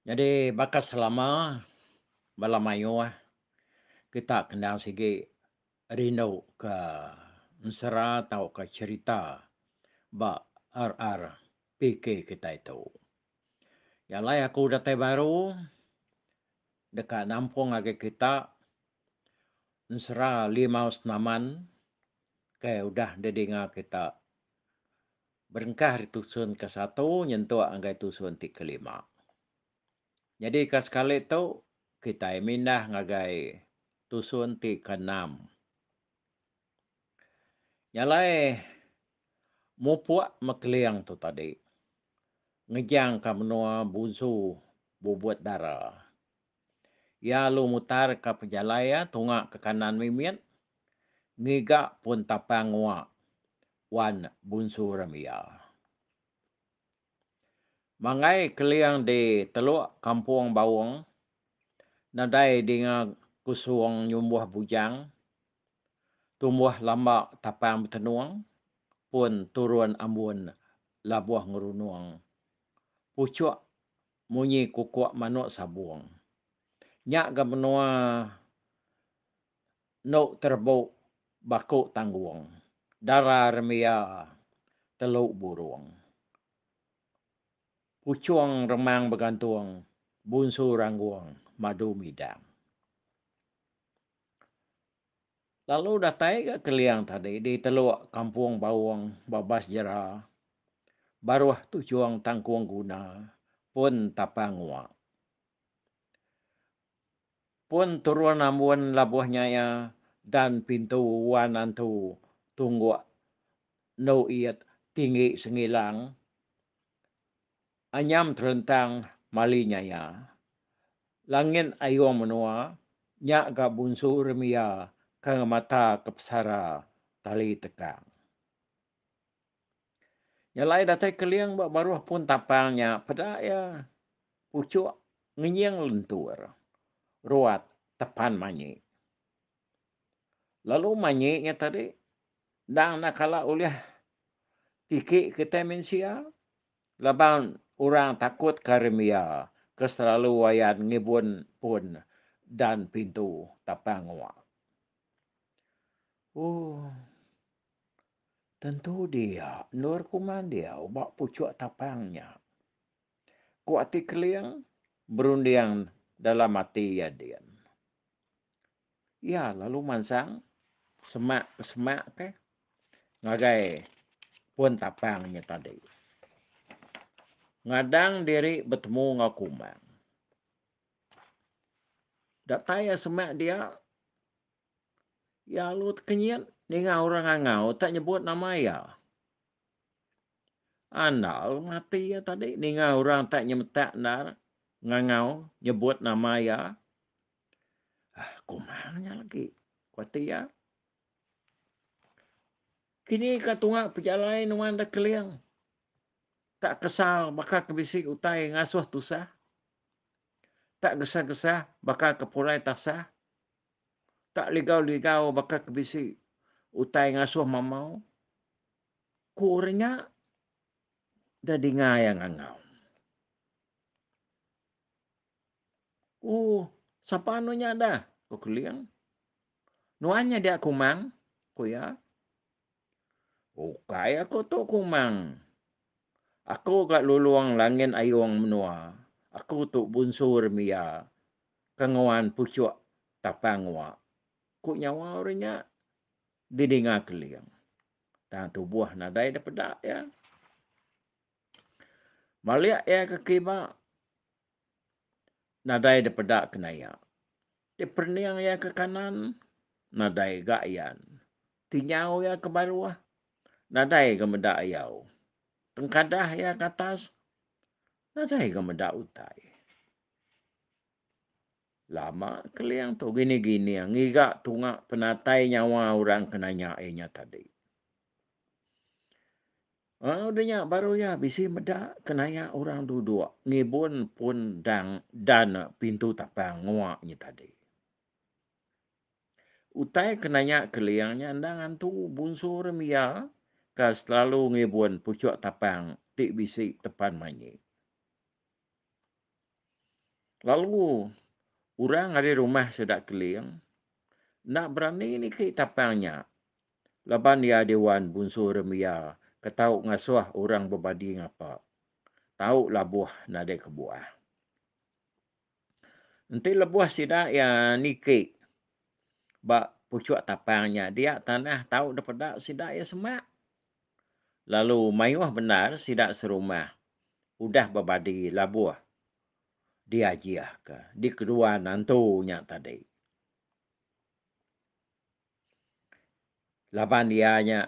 Nyadi baka selama bala mayuh kita kena sigi rindu ka ensera tauka cherita ba RRPK kitai tu. Nya alai aku datai baru deka nampung agi kita ensera limau senaman ke udah didinga kita. Berengkah ari tusun ke satu nyentuk ngagai tusun ti kelima. Nyadika sekali tu, kitai mindah ngagai tusun ti keenam. Nya alai, mupuk mekeling tu tadi ngejangka menua Bunsu Bubut Dara. Iya alu mutarka pejalai iya tunga ke kanan mimit ngiga pun tapang ngua Wan Bunsu Ramia. Manggai keling di Teluk Kampung Baung, nadai dinga kusung nyumbuh bujang, tumbuh lamba tapang betenung, pun turun ambun labuh ngerunung puchuk munyi kukuk manuk sabung. Nya ga menua endo terebu baku tanggung dara remia telu burung puchung remang begantung bunsu ranggung madu midang. Lalu datai ga Keliang tadi di teluk Kampung Baung Babas Jera baruh tuchung tangkung guna pun tapang nguak. Pun turun ambun labuh nya iya dan pintu wan antu tungguk endu iet tinggi sengilang anyam terentang mali nya iya. Langit ayung menua nya ga bunsu remiya ka ngemata ke pesara tali tekang. Nya alai datai Keling ba baruh pun tapang nya peda iya puchuk ngenying lentur ruat tepan manyi. Lalu manyi nya tadi endang enda kala ulih tiki kitai mensia laban orang takut ke remia ke selalu ayan ngibun pun dan pintu tapang ngua. Ooh. Tentu dia, endur ku Mandiau ba puchuk tapang nya. Ku Ati Keling berunding dalam ati iya din. Iya lalu mansang semak ke semak ke ngagai pun tapang nya tadi. Ngadang diri betemu enggau Kumang. Datai iya semak dia. Iya alu tekenyit ninga orang angau tak nyebut nama iya. Andal mati iya tadi ninga orang tak nyemetak endar ngangau nyebut nama iya. Ah, kumang nya lagi, ku ati iya. Kini ka tunga pejalai nuan da keling. Tak kesal baka ke bisi utai ngasuh tusah. Tak gesah-gesah baka ke pulai tasah. tak ligau-ligau baka ke bisi utai ngasuh mamau, ku orang nya da dinga iya ngangau. Ooh, sapa anu nya dah? ku Keling. Nuan nya dia Kumang, ku iya. Ukai aku tu kumang. Aku ga lulong langit ayong menua. Aku tu bunsu remiya ke nguan puchok tapang uak, ku nyawa orang nya didinga Keling. Tang tubuh nadai dipeda iya. Malik iya ke kiba Nadai dipeda ke naya. Diperening iya ke kanan, nadai ga iyan. Tinyau iya ke baruh, nadai ga meda iyau. Tengkadah iya ke atas, nadai ga meda utai. Lama Keling tu gining-gining ngiga tunga penatai nyawa orang ke nanya iya nya tadi. Lalu udah nya baru iya bisi meda ke naya orang duduk ngibun pun dang dan pintu tapang ngua nya tadi. Utai ke naya Keling nya enda ngantu bunsu rim iya ka selalu ngibun puchuk tapang ti bisi tepan manyi. Lalu orang ari rumah sida Keling enda berani niki tapang nya Laban iya diwan bunsu rembia ke tau ngasuh orang bebadi ngapa, tau labuh nadai kebuah. Enti lebuh sida iya niki ba puchuk tapang nya dia tanah tau dipeda sida iya semak. Lalu mayuh bendar sida serumah udah bebadi labuh diajihka dikedua nantu nya tadi. laban iya nya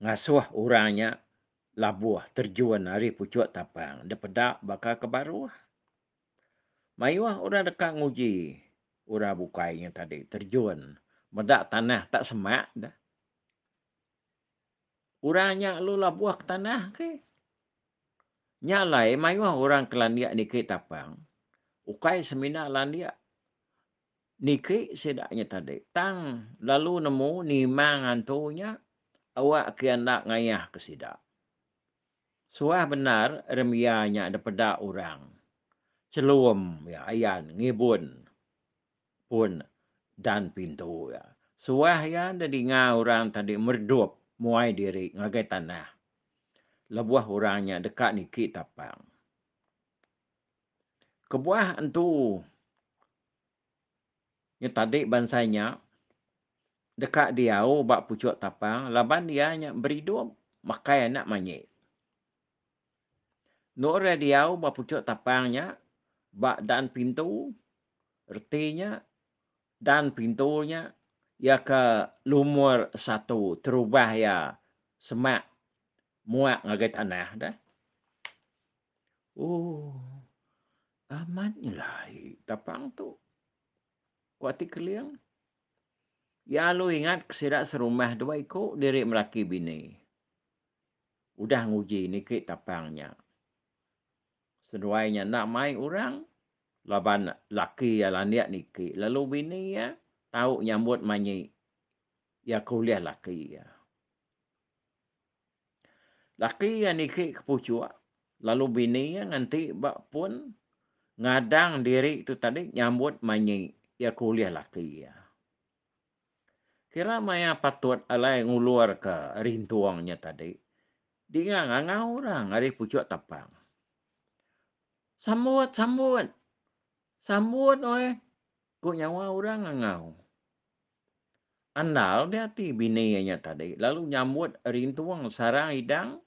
ngasuh orang nya labuh terjun ari puchuk tapang dipeda baka ke baruh. Mayuh orang deka nguji orang bukai nya tadi terjun meda tanah tak semak deh. Orang nya lalu labuh ke tanah ke. Nya alai mayuh orang ke landik niki tapang ukai semina landik Niki sida nya tadi tang lalu nemu nimang antu nya awak ke enda ngayah ke sida. Suah bendar Irmia nya dipeda orang chelum iya ayan ngibun pun dan pintu iya. Suah iya enda dinga orang tadi meredup muai diri ngagai tanah lebuh orang nya deka niki tapang. Kebuah entu nyetadi bansa nya deka diau ba puchok tapang laban iya nya beridup makai anak manyi. Endor iya diau ba puchok tapang nya ba dan pintu reti nya dan pintu nya iya ke lumur satu terubah iya semak muak ngagai tanah deh. Ooh. Amat nyelai tapang tu. Ku ati Keling. Iya alu ingat ke sida serumah dua iku diri melaki bini. Udah nguji niki tapang nya. Seduai nya enda mai orang laban laki iya landik niki lalu bini iya tau nyambut manyi iya ke ulih laki iya. Laki iya niki ke puchuk lalu bini iya nganti ba pun ngadang diri tu tadi nyambut manyi iya ke ulih laki iya. Kira maya patut alai ngulurka rintung nya tadi dinga ngangau orang ari puchuk tapang. Sambut, sambut. Sambut uih, ku nyawa orang ngangau. Andal di ati bini iya nya tadi lalu nyambut ari entung sarang idang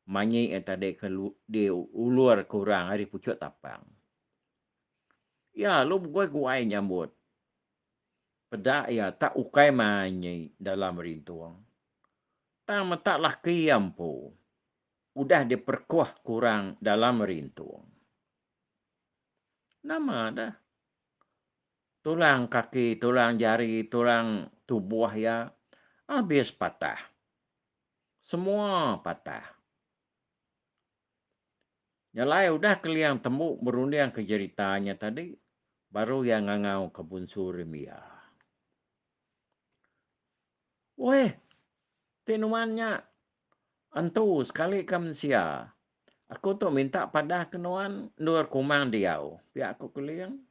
manyi iya tadi ke diulur ke orang ari puchut tapang. Iya lalu beguai-guai nyambut. Peda iya tak ukai manyi dalam ari entung. Tang meta laki iya empu udah diperekuh ke orang dalam ari entung. Nama deh. Tulang kaki, tulang jari, tulang tubuh iya abis patah. Semua patah. Nyelai udah Keliang Tembu berundingka jerita nya tadi, baru iya ngangauka Bunsu Rim iya. Weh, ti nuan nya entu sekali ka mensia. Aku tu minta padahka nuan endur kumang diau, pia ku Keling.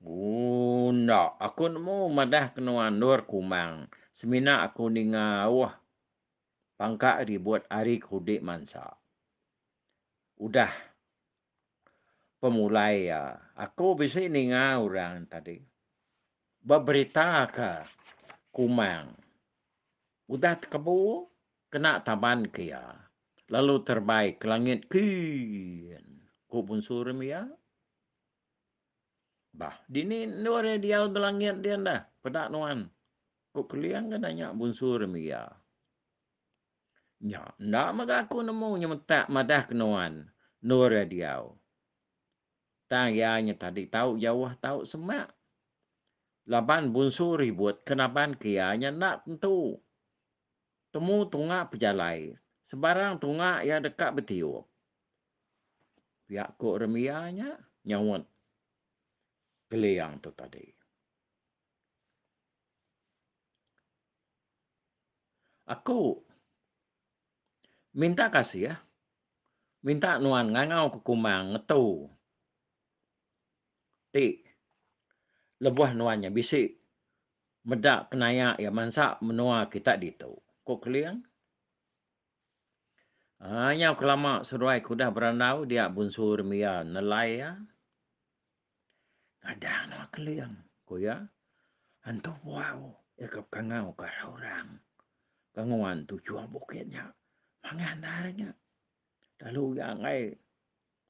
Ooh enda, aku nemu madah kenoa endur kumang semina aku ninga auh pangka ribut ari ke udi mansa. Udah pemulai iya aku bisi ninga orang tadi ba berita ka kumang udah tekebu kena taban ke iya lalu terbai ke langit kii ku bunsu rumia Bah, dini endur iya diau ba langit dia enda? Peda nuan, ku Keling ke nanya Bunsu Remiga. Nya, enda mega aku nemu nyemetak madah ke nuan endur iya diau. Tang iya nya tadi tau jauh tau semak. Laban Bunsu Ribut ke naban ke iya nya enda tentu. Temu tunga pejalai, sebarang tunga iya deka betiup. Pia ku Remiah nya nyaut Keliang tu tadi. Aku minta kasih minta nuan ngangau ke kumang ngetu ti lebuh nuan nya bisi meda penaya iya mansa menua kita ditu, ku Keliang. Haa nyau kelama seduai ke udah berandau dia bunsu rumi iya nelai iya ngadang nengah keling ku iya antu buah u iya ke pekangau ka arah orang ke nguan tu juah bukit nya mangan andar nya lalu iya enggai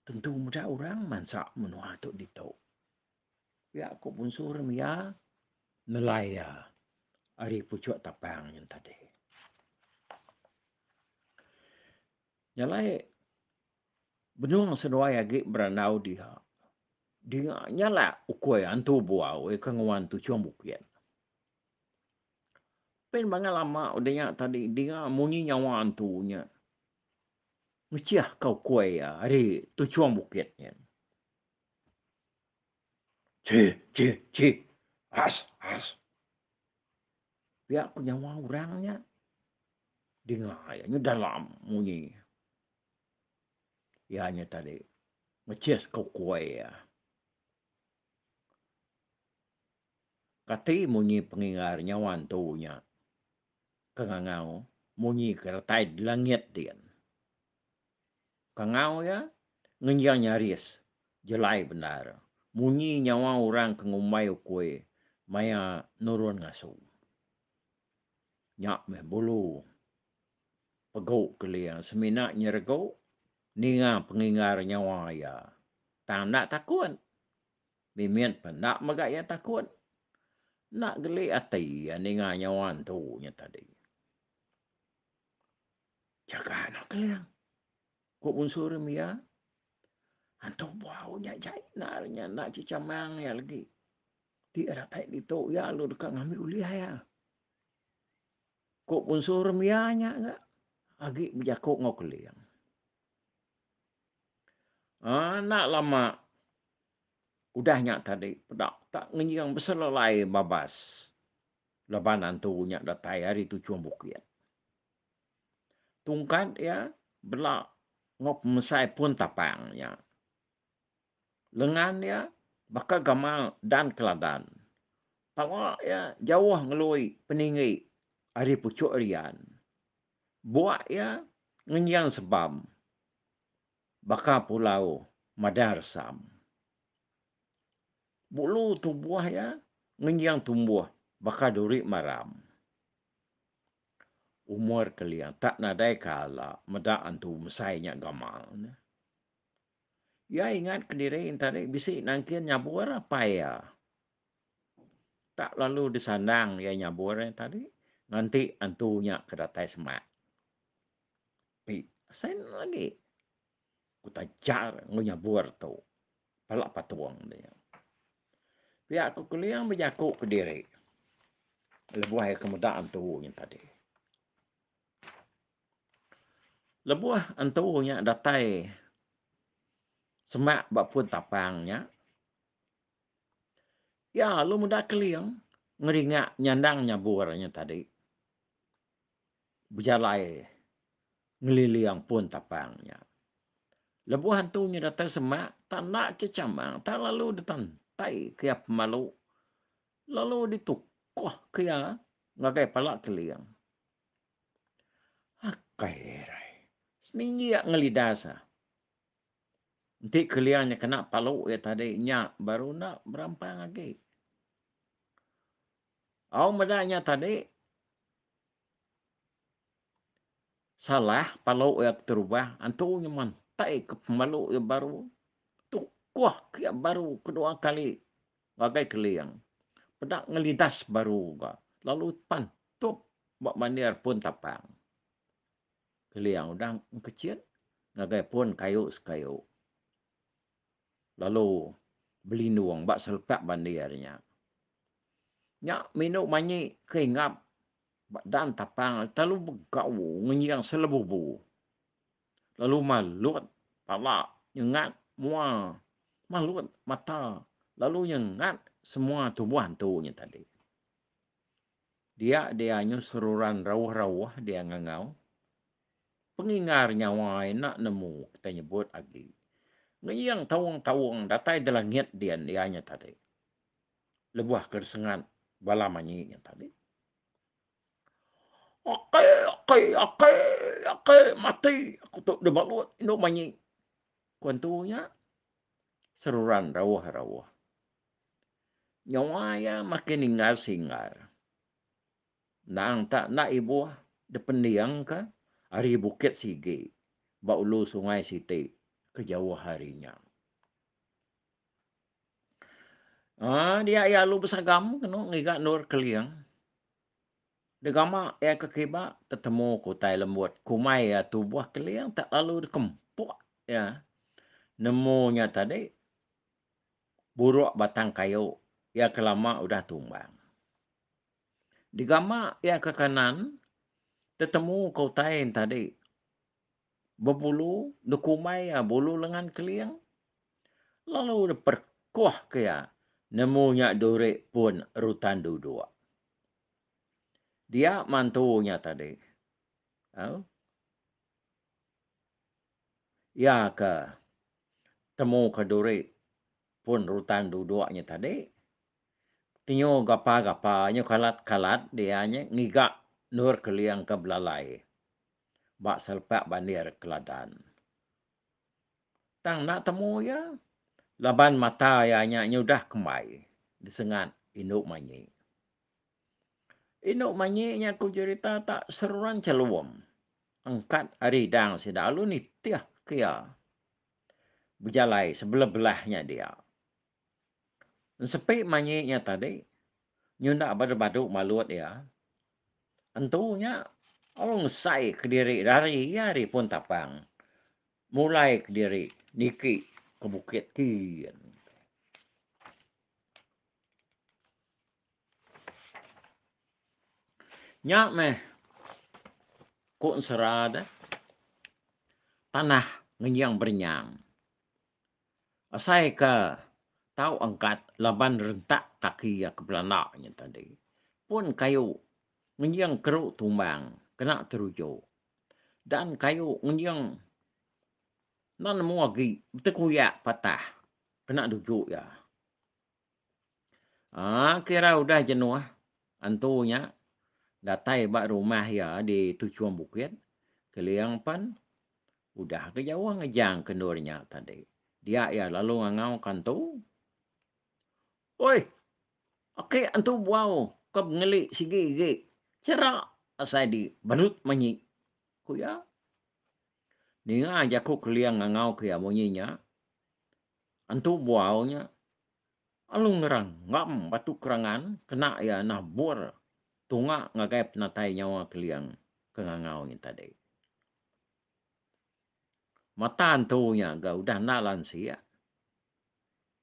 tentu meda orang mansa menua tu ditu. Pia ku Bunsu ri mia nelai iya ari puchuk tapang nyun tadi. Nya alai benung seduai agi berandau dia dinga nya alai ukui antu buau iya ke nguan Tuchung Bukit. Pin bangai lama udah nya tadi dinga munyi nyawa antu nya ngechihka ukui iya ari Tuchung Bukit nyin. Chi, chi, chi. Ash, ash. Pia ku nyawa orang nya. Dinga iya nya dalam munyi. Iya nya tadi mechis ke ukoi iya. Kati munyi pengingar nyawa antu nya ke ngangau munyi ke retai di langit din. Kangau iya ngenjang nyaris jelai bendar munyi nyawa orang ke ngumbai ukui maya nurun ngasu. Nya meh bulu pegu Keling semina nyeregu ninga penginggar nyawa iya tang enda takut. Mimit pun enda mega iya takut. Enda geli ati iya ninga nyawa entu nya tadi. Jaga anak Keling. Ku Bunsu rim iya. Antu bau nya jai enda re nya enda chicha mang iya legi. Ti datai ditu iya lalu deka ngambi ulih iya. Ku Bunsu rim iya nya ga agi bejaku enggau Keling. Ah enda lama udah nya tadi peda tak ngenjing beselelai babas laban antu nya datai ari tuchung bukit. Tungkat iya bela enggau pemesai pun tapang nya. Lengan iya baka gamal dan keladan. Pala iya jauh ngelui peninggi ari puchuk rian. Buak iya ngenjing sebam baka pulau madang resam. Bulu tubuh iya ngenjing tumbuh baka duri maram. Umur kelia tak nadai ka ala meda antu mesai nya gamal ne. Iya ingat ke diri enta dei bisi nangkin nyabur apai iya. Tak lalu disandang iya nyabur iya tadi nganti antu nya ke datai semak. Pik, asai nya agi. Ku tajar enggau nyabur tu pala patung tu nya. Pia aku keling bejaku ke diri lebuh aku meda antu nya tadi. Lebuh antu nya datai semak ba pun tapang nya, iya lalu meda keling ngeringa nyandang nyabur nya tadi. bejalai ngeliling pun tapang nya. Lebuh antu nya datai semak, tak enda ke chamang tak lalu ditantai ke iya pemalu lalu ditukuh ke iya ngagai pala keling. Akai arai. Seninjik ngelidas ah. Enti keling nya kena palu iya tadi nya baru enda berampang agi. Au meda nya tadi, Salah palu iya ke terubah antu nyemantai ke pemalu iya baru tukuh ke iya baru kedua kali ngagai keling peda ngelidas baru ga lalu pantup ba mandir pun tapang. Keling udah engkechin ngagai pun kayu sekayu. lalu belindung ba selepak bandi ari nya. Nya minu manyi ke hinggap ba dan tapang ari telu begau ngenjing selebubu lalu malut pala nyengat mua malut mata lalu nyengat semua tubuh antu nya tadi. Dia dia nyu seruran rauh-rauh dia ngangau. Pengingar nyawa ai enda nemu kitai nyebut agi. Ngeyeng taung-taung datai delangit din iya nya tadi. Lebuh ke disengat bala manyi nya tadi. Ake, ake, ake, ake mati aku tu dibalut indu manyi. Ku entu nya seruran rauh-rauh. Nyawa iya makin inggar singgar. Endang tak enda ibuh dipending ka ari bukit sigi ba ulu sungai siti ke jauh ari nya. Aa dia iya lalu besagam kenu ngiga endur Keling. Degama iya ke kiba tetemu ke utai lembut kumai iya tubuh Keling tak lalu dikempuk iya nemu nya tadi. buruk batang kayu iya ke lama udah tumbang. Digama iya ke kanan, tetemu ke utai entadi bebulu dekumbai iya bulu lengan keling lalu deperkuh ke iya nemu nya duri pun rutan duduk. Dia mantu nya tadi. Au. Iya ke temu ke duri pun rutan duduk nya tadi. Tinyu gapa-gapa nyu kalat-kalat dia nya ngiga endur keling ke belalai ba selepak bandir Keladan. Tang enda temu iya laban mata iya nya nyudah kembai disengat indu manyi. Inu manyi nya ku jerita tak seruran chelum. Engkat ari dang sida alu nitih ke iya bejalai sebeleblah nya dia. Ensepi manyi nya tadi nyunda badu-badu malut iya. Entu nya alu ngesai kediri rari iya ari pun tapang mulai kediri niki ke bukit kin. Nya meh ku ensera de, tanah ngenying berenyang. Asai ke tau angkat laban rentak kaki iya ke belanda nya tadi, pun kayu ngenying keru tumbang kena teruju dan kayu ngenying enda nemu agi betekuyak patah kena duju iya. Aa kira udah jenuh antu nya datai ba rumah iya di Tuchum Bukit, Keling pen udah ke jauh ngejang ke endur nya tadi. Dia iya lalu ngangau ke antu, Oi, ake antu buau ke bengeli sigi agi chera asai di Berut Manyi, ku iya. Ninga jaku Keling ngangau ke iya munyi nya, Antu buau nya, alu ngeranggam batu kerangan kena iya nabur tunga ngagai penatai nyawa Keling ke ngangau nya tadi. Mata antu nya ga udah enda lansik,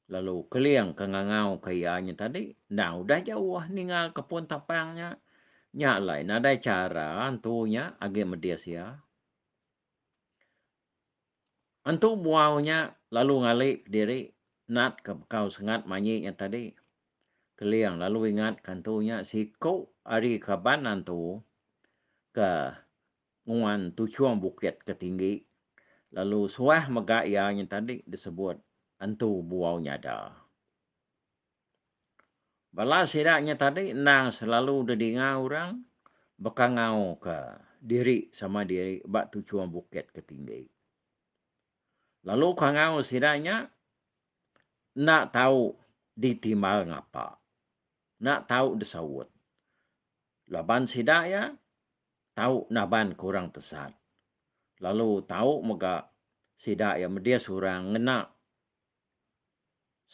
lalu Keling ke ngangauka iya nya tadi endang udah jauh ninggalka pun tapang nya. Nya alai nadai chara antu nya agi medis iya. Entu buau nya lalu ngali kediri natka bekau sengat manyi nya tadi. Keling lalu ingatka entu nya siku ari kaban antu ke nguan tuchung bukit ke tinggi lalu suah mega iya nya tadi disebut entu buau nyada. Bala sida nya tadi endang selalu didinga orang bekangauka diri sama diri ba tuchum bukit ke tinggi. Lalu kangau sida nya enda tau ditimbal ngapa. Enda tau disaut. Laban sida iya tau nabanka orang tesat lalu tau mega sida iya medis orang ngena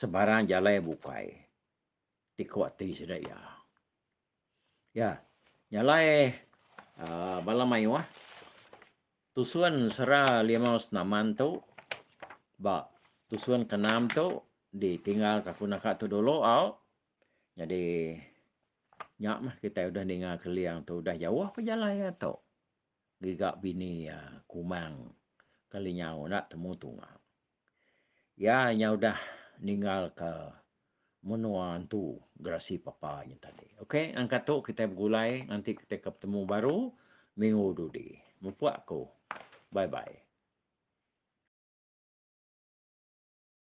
sebarang jalai bukai ti ku ati sida iya. Ya, jalai aaa bala mayuh tusun sera limau senaman tu ba tusun ke enam tu ditinggal ka ku naka tu dulu au. Nyadi nya meh kitai udah ninga keling tu udah jauh pun jalai iya tu. giga bini iya Kumang kali nyau enda temu tunga. Iya nyau udah ninggalka menua entu gerasi papa nya tadi. Ok angkat tu kitai begulai nganti kitai ke betemu baru minggu dudi. Mupuk aku. Bye bye.